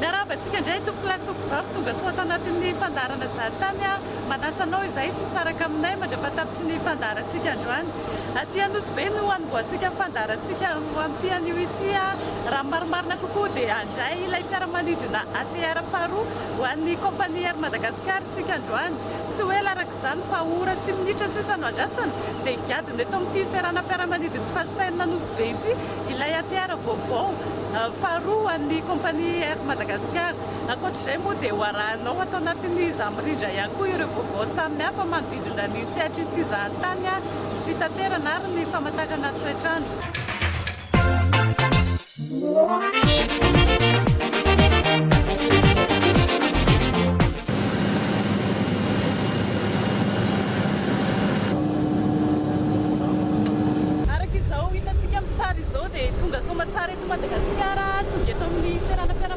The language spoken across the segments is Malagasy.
Miarahaba antsika indray tompoko lahy sy tompoko vavy tonga soa ato anatin'ny fandaharana Zary Tany aho manasa anao izahay tsy hisaraka aminay mandra-patapitry ny fandaharantsika androany. Aty Anosy Be no hanombohantsika ny fandaharantsika antoan'ity anio ity a! Raha ny marimarina kokoa dia handray ilay fiaramanidina ATR faharoa ho an'ny Compagnie Air Madagascar isika androany. Tsy ho ela Izany fa ora sy minitra sisa no andrasana dia higadona eto amin'ity seranam-piaramanidin'ny Fascen Anosibe ity ilay ATR vaovao faharoa ho an'ny kaompania Air Madagascar. Ankoatra izay moa dia ho arahinao ato anatin'ny Za Mirindra ihany koa ireo vaovao samihafa manodidina ny sehatry ny fizahantany, ny fitaterana ary ny famantarana ny toetr'andro. Araka izao hitantsika amin'ny sary izao dia tonga soamantsara eto Madagasikara, tonga eto amin'ny seranam-piaramanidina.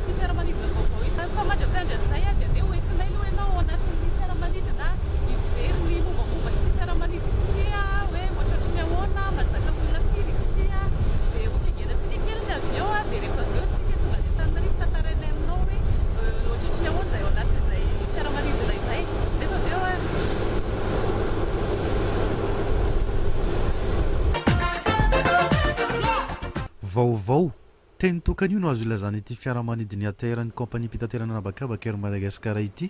Ity fiaramanidina vaovao ity. Rehefa mandra-piandry an'izay dia andeha hoentinay aloha ianao ao anatin'ny fiaramanidina hijery ny mombamomba ity fiaramanidina ity hoe ohatrohatry ny ahoana, mahazaka olona firy izy ity. Dia hotengenan-tsika kely ny avion dia rehefa avy eo isika tonga any Antananarivo tantarainay aminao hoe ohatrohatry ny ahoana izay ao anatin'izay fiaramanidina izay nefa avy eo an. Vaovao. Teny tokana io no azo ilazana ity fiaramanidin'ny ATR-n'ny kaompaniam-pitaterana an'habakabaka Air Madagascar ity,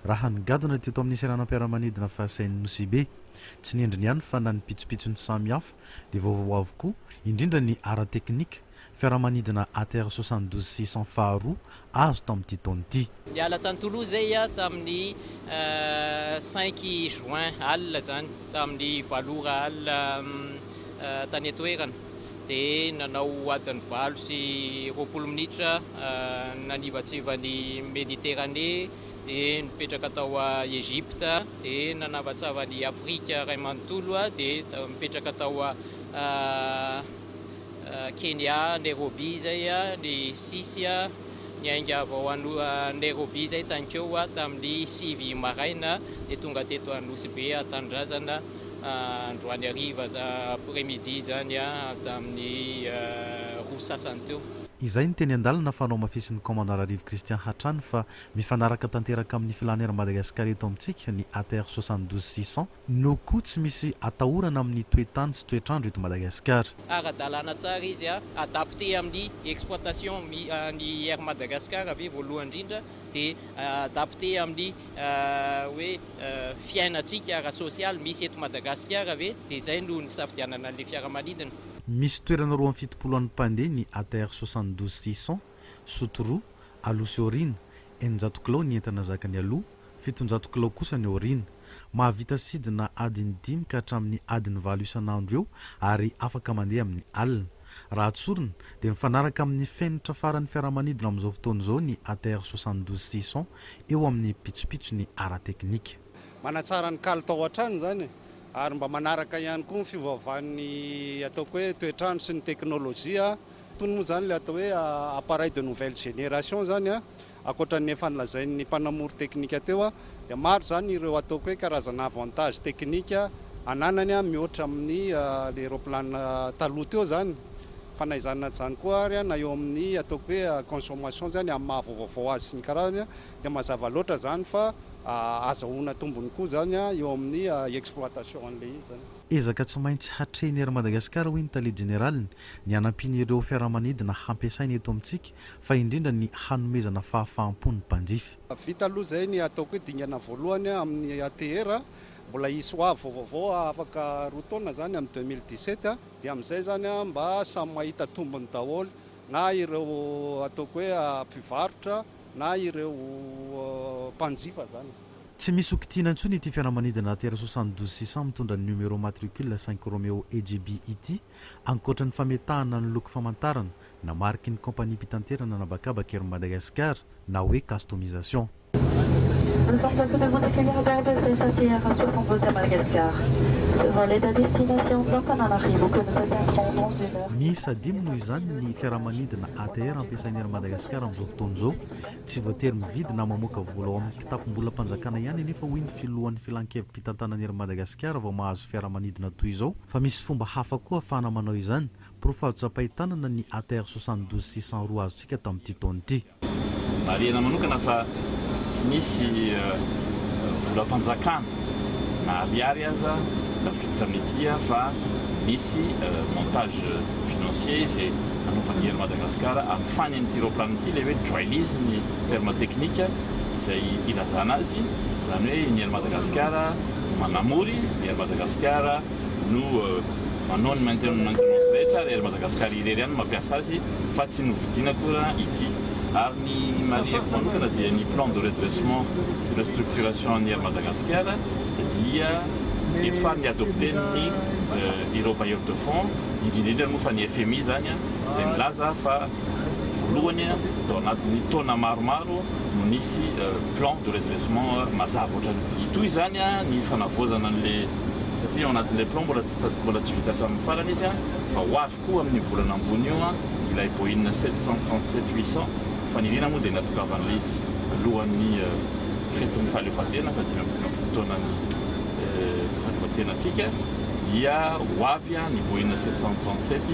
raha ny gadona teto amin'ny seranam-piaramanidina Fahasain'i Nosibe. Tsy ny endriny ihany fa na ny pitsopitsony samy hafa dia vaovao avokoa, indrindra ny ara-teknika, fiaramanidina ATR soixante douze six cents faharoa azo tao amin'ity taona ity. Niala tany Toulouse zay ia tamin'ny cinq juin alina izany, tamin'ny valo ora alina tany an-toerana, dia nanao adiny valo sy roapolo minitra nanivatsiva ny Méditerranée, dia nipetraka tao Egypte, dia nanavatsava an'i Afrika iray manontolo, dia nipetraka tao Kenya, Nairobi izay, ny sisy niainga vao hanoa Nairobi izay tany Keo tamin'ny sivy maraina dia tonga teto Anosy Be Tanindrazana androany hariva après midi izany tamin'ny roa sy sasany teo. Izay ny teny an-dalana fa nohamafisin'ny Commandant Rarivo Christian hatrany fa mifanaraka tanteraka amin'ny filan'Air Madagascar eto amintsika ny ATR soixante douze six cents No koa tsy misy atahorana amin'ny toe-tany sy toetr'andro eto Madagasikara. Ara-dalàna tsara izy a adapter amin'ny exploitation ny Air Madagascar ve voalohany indrindra dia adapter amin'ny hoe fiainantsika ara-tsosialy misy eto Madagasikara ve dia izay no nisafidianana an'ilay fiaramanidina. Misy toerana roa amby fitopolo an'ny mpandeha ny ATR soixante douze six cents, Soto roa, aloha sy aoriana, eninjato kilao ny entana zakany aloha, fitonjato kilao kosa ny aoriana. Mahavita sidina adiny dimy ka hatramin'ny adiny valo isan'andro eo ary afaka mandeha amin'ny alina. Raha tsorina, dia mifanaraka amin'ny fenitra faran'ny fiaramanidina amin'izao fotoana izao ny ATR soixante douze six cents eo amin'ny pitsopitsony ara-teknika. Manatsara ny kalitao hatrany izany e! Ary mba manaraka ihany koa ny fiovaovan'ny ataoko hoe toetr'andro sy ny teknolojia. Itony moa izany ilay atao hoe appareil de nouvelle génération izany an! Ankoatra ny efa nolazain'ny mpanamory teknika teo dia maro izany ireo ataoko hoe karazana avantage teknika ananany mihoatra amin'ny le roplanina taloha teo izany fa na izany na izany koa ary na eo amin'ny ataoko hoe consommation izany amin'ny maha vaovao azy sy ny karazany dia mazava loatra izany fa azahoana tombony koa izany eo amin'ny exploitation an'ilay izy izany. Ezaka tsy maintsy hatrehin'ny Air Madagascar hoy ny tale jeneraliny ny hanampian'ireo fiaramanidina hampiasaina eto amintsika fa indrindra ny hanomezana fahafaham-po ny mpanjifa. Vita aloha izay ny ataoko hoe dingana voalohany amin'ny ATR, mbola hisy ho avy vaovao afaka roa taona izany amin'ny deux mille dix sept, dia amin'izay izany mba samy mahita tombony daholo na ireo ataoko hoe mpivarotra na ireo mpanjifa izany. Tsy misy ho kitihina intsony ity fiaramanidina ATR soixante douze six cents mitondra ny numéro matricule cinq Romeo EJB ity, ankoatra ny fametahana ny loko famantarana Namariky ny kaompaniam-pitanterana an'habakabaka ery Madagasikara na hoe Customisation. Nous sommes à toutes gouttes qui vont garder cette ATR à 60 gouttes à Madagascar. Ce vol est à destination d'Antananarivo que nous atteindrons dans une heure. Miisa dimy noho izany ny fiaramanidina ATR ampiasain'i Air Madagascar amin'izao fotoana izao. Tsy voatery mividy na mamoaka vola ao amin'ny kitapom-bolam-panjakana ihany anefa hoy ny filohan'ny filankevi-pitantanan'i Air Madagascar vao mahazo fiaramanidina toy izao fa misy fomba hafa koa ahafahana manao izany Porofo azo tsapain-tanana ny ATR soixante douze six cent roa azontsika tamin'ity taona ity. Marihina manokana fa tsy nisy volam-panjakana na ariary aza tafiditra amin'ity fa nisy montage financier izay nanaovan'i Air Madagascar amin'ny fanin'ity raoplaniny ity ilay hoe dry lease ny terme teknika izay ilazana azy, izany hoe ny Air Madagascar manamory, ny Air Madagascar. no manao ny maintenance rehetra ary Air Madagascar irery ihany no mampiasa azy fa tsy novidiana akory ity ary ny marihiko manokana dia ny plan de redressement sy restructuration an'ny Air Madagascar dia efa ny adopten'ny ireo bailleurs de fonds indrindra indrindra moa fa ny FMI izany izay milaza fa voalohany tao anatin'ny taona maromaro no nisy plan de redressement mazava ohatran'ny itoy izany ny fanavaozana an'ilay satria ao anatin'ilay plan mbola tsy mbola tsy vita hatramin'ny farany izy fa ho avy koa amin'io volana ambony io ilay Boeing sept cent trente sept huit cent faniriana moa dia natokavan'ilay izy alohan'ny fetin'ny fahaleovantena fa dimy amby dimampolo taonan'ny fahaleovantenantsika dia ho avy ny Boeing sept cent trente sept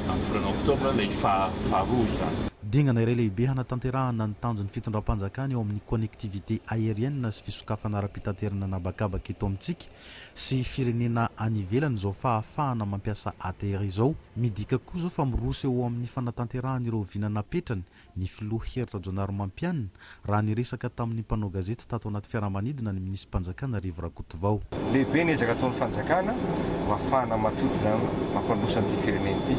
amin'ny volana oktobra ilay faha faharoa izany. Dingana iray lehibe hanatanterahana ny tanjon'ny fitondram-panjakana eo amin'ny connectivité aérienne sy fisokafana ara-pirenena. fitaterana an'habakabaka eto amintsika sy firenena any ivelany izao fahafahana mampiasa ATR izao. Midika koa izao fa miroso eo amin'ny fanatanterahan'ireo vina napetrany ny filoha Hery Rajaonarimampianina, raha niresaka tamin'ny mpanao gazety tato anaty fiaramanidina ny minisi-panjakana Rivo Rakotovao. Lehibe ny ezaka ataon'ny fanjakana mba hahafahana mampidina, mampandroso an'ity firenena ity.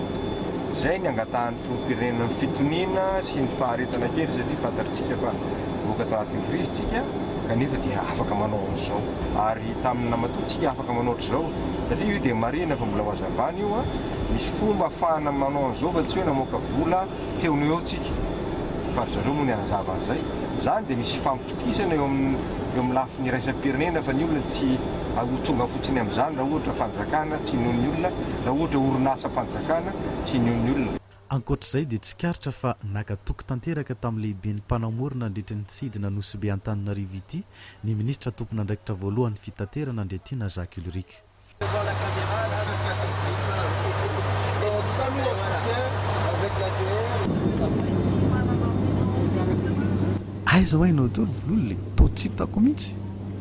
Izay ny angatahan'ny. Filoham-pirenena fitoniana sy ny faharetana kely satria fantatritsika fa voaka tao anatin'ny krizy isika kanefa dia afaka manao an'izao ary tamin'ny namatoa tsika afaka manao hatrizao satria io dia marihina fa mbola ho hazavana io an misy fomba afahana manao an'izao fa tsy hoe namoaka vola teo no eo tsika fa ry zareo moa ny hanazava an'izay izany dia misy hifampitokisana eo amin'ny eo amin'ny lafiny iraisam-pirenena fa ny olona tsy ho tonga fotsiny amin'izany raha ohatra fanjakana tsy noho ny olona raha ohatra orinasam fanafihana tsy nio ny olona. Ankoatra izay dia tsikaritra fa naka toky tanteraka tamin'ny lehiben'ny mpanamorona nandritra ny tsidina Nosy-Be Antananarivo ity ny minisitra tompon'andraikitra voalohan'ny fitaterana Andriatiana Jacques Ulrich. Aiza hoy ianao toa ry Vololona e? Toa tsy hitako mihitsy.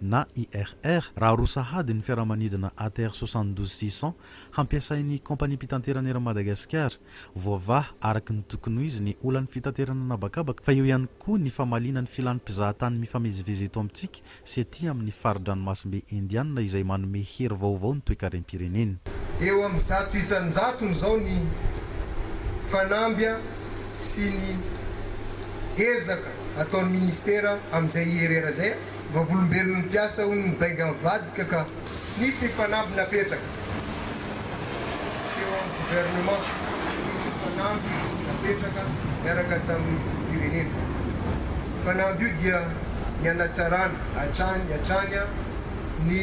na IRR, raha roa sahady ny fiaramanidina ATR 72 six cents hampiasain'ny Kaompaniam-pitanterana Air Madagascar. Voavaha araka ny tokony ho izy ny olan'ny fitaterana an'habakabaka fa eo ihany koa ny famaliana ny filan'ny mpizahatany mifamezivezy eto amintsika sy ety amin'ny fari-dranomasimbe Indiana izay manome hery vaovao ny toekarem-pireneny. Eo amin'ny zato isan-jatony izao ny fanambia sy ny ezaka ataon'ny Ministera amin'izay IRR izay. Vavolombelon'ny mpiasa hono ny benga mivadika ka. Nisy ny fanamby napetraka teo amin'ny gouvernement. Nisy ny fanamby napetraka niaraka tamin'ny filoham-pirenena. Io fanamby io dia ny hanatsarana hatrany hatrany ny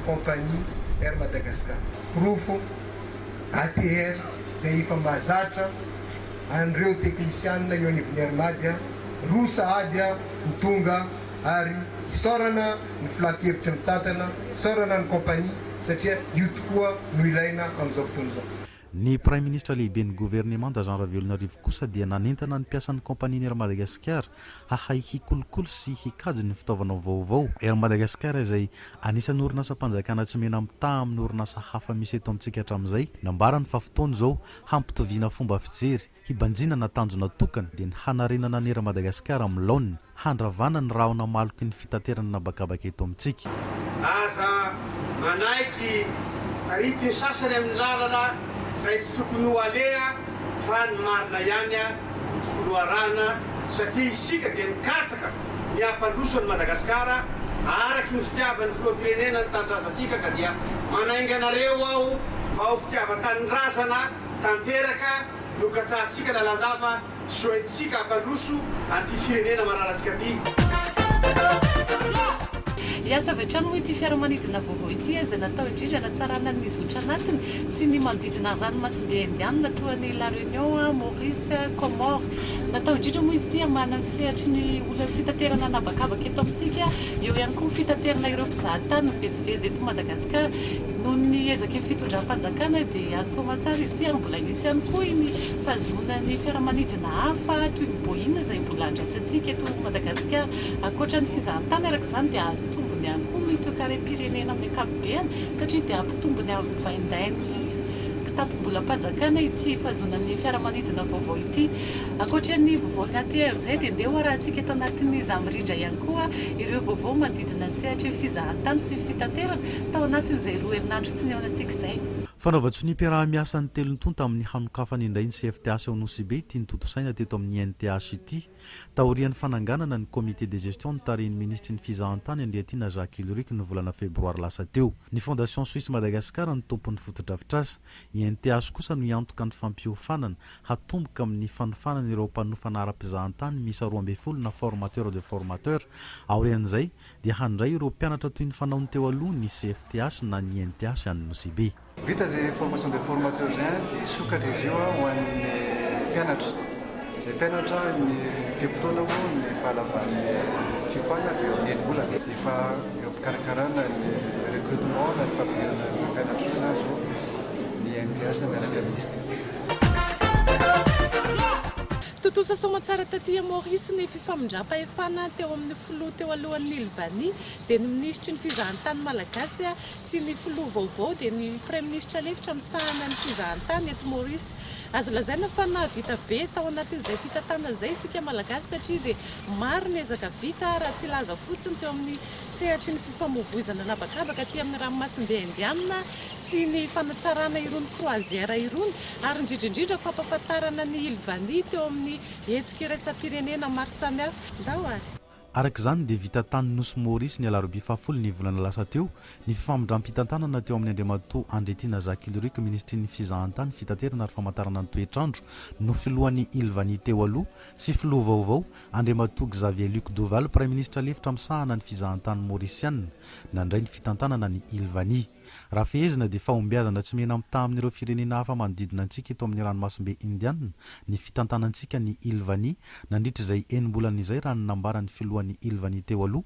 compagnie Air Madagascar. Porofo, ATR, izay efa mahazatra an'ireo teknisianina eo anivon'ny Air Mad, roa sahady ny tonga. ary isaorana ny filan-kevitry ny mpitantana, isaorana ny kaompania satria io tokoa no ilaina amin'izao fotoana izao. Ny Praiminisitra Lehiben'ny Governemanta Jean Ravelonarivo kosa dia nanentana ny mpiasan'ny kaompanian'ny Air Madagascar hahay hikolokolo sy hikajy ny fitaovana vaovao. Air Madagascar izay anisan'ny orinasam-panjakana tsy mena-mitaha amin'ny orinasa hafa misy eto amintsika hatramin'izay, nambarany fa fotoana izao hampitoviana fomba fijery Hibanjinana ny tanjona tokana dia ny hanarenana ny Air Madagascar amin'ny laoniny, handravana ny rahona maloky ny fitaterana an'habakabaka eto amintsika. Aza manaiky tarity ny sasany amin'ny lalana izay tsy tokony ho aleha fa ny marina ihany no tokony ho arahina satria isika dia mikatsaka ny hampandroso an'i Madagasikara araky ny fitiavan'ny filoham-pirenena ny tanindrazantsika ka dia manainga anareo aho mba ho fitiavan-tanindrazana tanteraka no katsahantsika lalandava sy hoentintsika hampandroso an'ity firenena mararantsika ty. Hiasa avy hatrany moa ity fiaramanidina vaovao ity izay natao indrindra hanatsarana ny zotra anatiny sy ny manodidina ny ranomasimbe Indianina toa an'i La Réunion, Maurice, Comores. Natao indrindra moa izy ity hamahana ny sehatry ny olan'ny fitaterana an'habakabaka eto amintsika, eo ihany koa ny fitaterana ireo mpizahatany mivezivezy eto Madagasikara. Ka noho ny ezaky ny fitondram-panjakana dia azo soamantsara izy ity ary mbola nisy ihany koa iny fahazoana ny fiaramanidina hafa toy ny Boeing izay mbola andraisantsika eto Madagasikara. Ankoatra ny fizahantany araka izany dia azo tombony ihany koa ny toekarem-pirenena amin'ny ankapobeny satria dia hampitombo ny amin'ny baindain'ny kitapom-bolam-panjakana ity fahazoana ny fiaramanidina vaovao ity. Ankoatra ny vaovao ny ATR izay dia ndeha hoarahantsika eto anatin'ny izaho mirindra ihany koa ireo vaovao manodidina Voahodidina sehatry ny fizahantany sy ny fitaterana, tao anatin'izay roa herinandro tsy nihaonantsika izay. Fanaovan-tsoniam-piaraha-miasa ny telo tonta amin'ny hanokafana indray ny CFTH ao Nosy-Be ity notontosaina teto amin'ny NTH ity, taorian'ny fananganana ny Comité de gestion notarihin'ny Minisitry ny Fizahantany Andriatiana Jacques Ulrich ny volana febroary lasa teo. Ny Fondation Suisse Madagascar no tompon'ny fotodrafitrasa. I NTH kosa no hiantoka ny fampiofanana hatomboka amin'ny fanofana ireo mpanofana ara-pizahantany miisa roa ambin'ny folo na formateur de formateur. Aorian'izay dia handray ireo mpianatra toy ny fanaony teo aloha ny CFTH na ny NTH any Nosy-Be. Vita izay formation de formateur izay dia hisokatra izy io ho an'ny mpianatra. Izay mpianatra ny fe-potoana moa ny fahalavan'ny fiofanana dia eo amin'ny enim-bolana. Efa eo am-pikarakarana ny recrutement na ny fampidirana ireo mpianatra izany izao ny NTH miaraka amin'ny Minisitera. Tontosa soamantsara taty a Maurice ny fifamindram-pahefana teo amin'ny filoha teo alohan'ny Lvanie dia ny minisitry ny fizahantany malagasy sy ny filoha vaovao dia ny praiminisitra lefitra misahana ny fizahantany eto Maurice. Azo lazaina fa nahavita be tao anatin'izay fitantanana izay isika malagasy satria dia maro ny ezaka vita raha tsy hilaza fotsiny teo amin'ny sehatry ny fifamoivoizana an'habakabaka aty amin'ny ranomasimbe Indiana sy ny fanatsarana irony croisière irony ary indrindra indrindra fampafantarana ny Île Vanille teo amin'ny hetsika iraisam-pirenena maro samihafa. Ndao ary. Araka izany dia vita tany Nosy Maurice ny alarobia fahafolo ny volana lasa teo ny fifamindram-pitantanana teo amin'ny Andriamatoa Andriatiana Jacques Ilorique Minisitrin'ny Fizahantany, Fitaterana ary Famantarana ny Toetr'andro no filohan'ny Île Vanille teo aloha sy filoha vaovao Andriamatoa Xavier Luc Duval, Praiminisitra lefitra misahana ny fizahantany Maorisiana, nandray ny fitantanana ny Ilvani. Raha fehezina dia fahombiazana tsy mihena-mitaha amin'ireo firenena hafa manodidina antsika eto amin'ny ranomasimbe Indiana ny fitantanantsika ny Ilvani nandritra izay enim-bolana izay raha ny nambaran'ny filohan'ny Ilvani teo aloha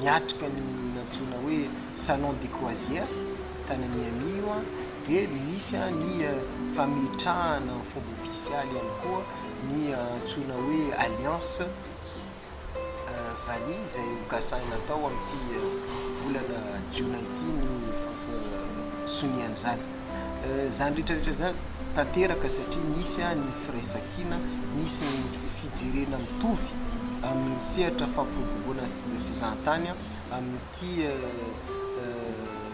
niatrika ny nantsoina hoe salon de croisière tany Miami io dia nisy ny fametrahana ny fomba ofisialy ihany koa ny antsoina hoe alliance vanille izay ho kasaina atao amin'ity volana jiona ity ny fampirobson-dRian'izany. Izany rehetra rehetra izany tanteraka satria nisy ny firaisankina, nisy ny fijerena mitovy amin'ny sehatra fampiroboroboana sy fizahantany amin'ity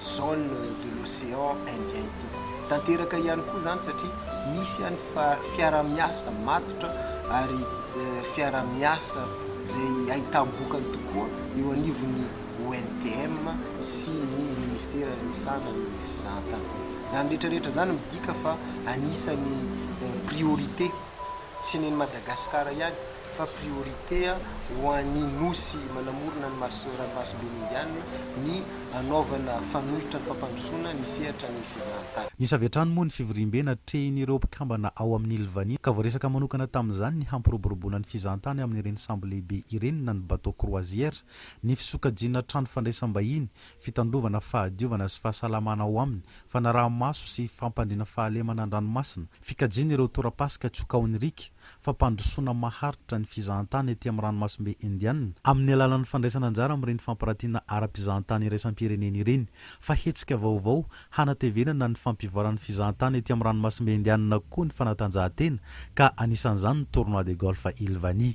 zone de l'océan indien ity. Tanteraka ihany koa izany satria nisy ihany fa- fiaraha-miasa matotra ary fiaraha-miasa izay ahitam-bokany tokoa eo anivon'ny ONTM sy ny Ministera misahana ny fizahantany. Izany rehetra rehetra izany midika fa anisan'ny priorité tsy nen'i Madagasikara ihany fa priorité ho an'ny Nosy manamorona ny ranomasimbe Indianina ny hanaovana fanoitra ny fampandrosoana ny sehatra ny fizahantany. Nisy avy hatrany moa ny fivoriambe natrehin'ireo mpikambana ao amin'ny Lvani ka voaresaka manokana tamin'izany ny hampiroboroboana ny fizahantany amin'ireny sambo lehibe ireny na ny bateau croisière ny fisokajiana trano fandraisam-bahiny, fitandrovana fahadiovana sy fahasalamana ao aminy, fanaraha-maso sy fampandriana fahalemana an-dranomasina, fikajiana ireo tora-pasika tsy ho kaon'ny riaka, fampandrosoana maharitra ny fizahantany ety amin'ny ranomasimbe Indiana amin'ny alalan'ny fandraisana anjara amin'ireny fampirantiana ara-pizahantany iraisam-pirenena ireny, fa hetsika vaovao hanatevenana ny fampivoaran'ny fizahantany ety amin'ny ranomasimbe Indiana koa ny fanatanjahantena, ka anisan'izany ny Tournoi de Golf Ilvani.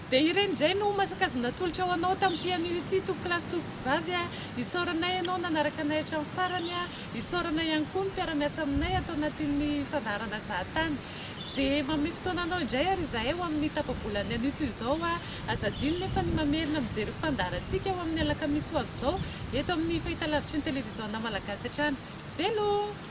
Dia ireny indray no masaka azy natolotra ho anao tamin'ity anio ity tompokolahy sy tompokovavy a! Isaoranay ianao nanaraka anay hatramin'ny farany a! Isaoranay ihany koa ny mpiara-miasa aminay ato anatin'ny fandaharana Zahatany. Dia manome fotoana anao indray ary izahay ho amin'ny tapa-bolan'ny anio toy izao a! Aza adino nefa ny mamerina mijery io fandaharantsika ho amin'ny alakamisy ho avy izao eto amin'ny fahitalavitry ny televiziona malagasy hatrany. Veloma!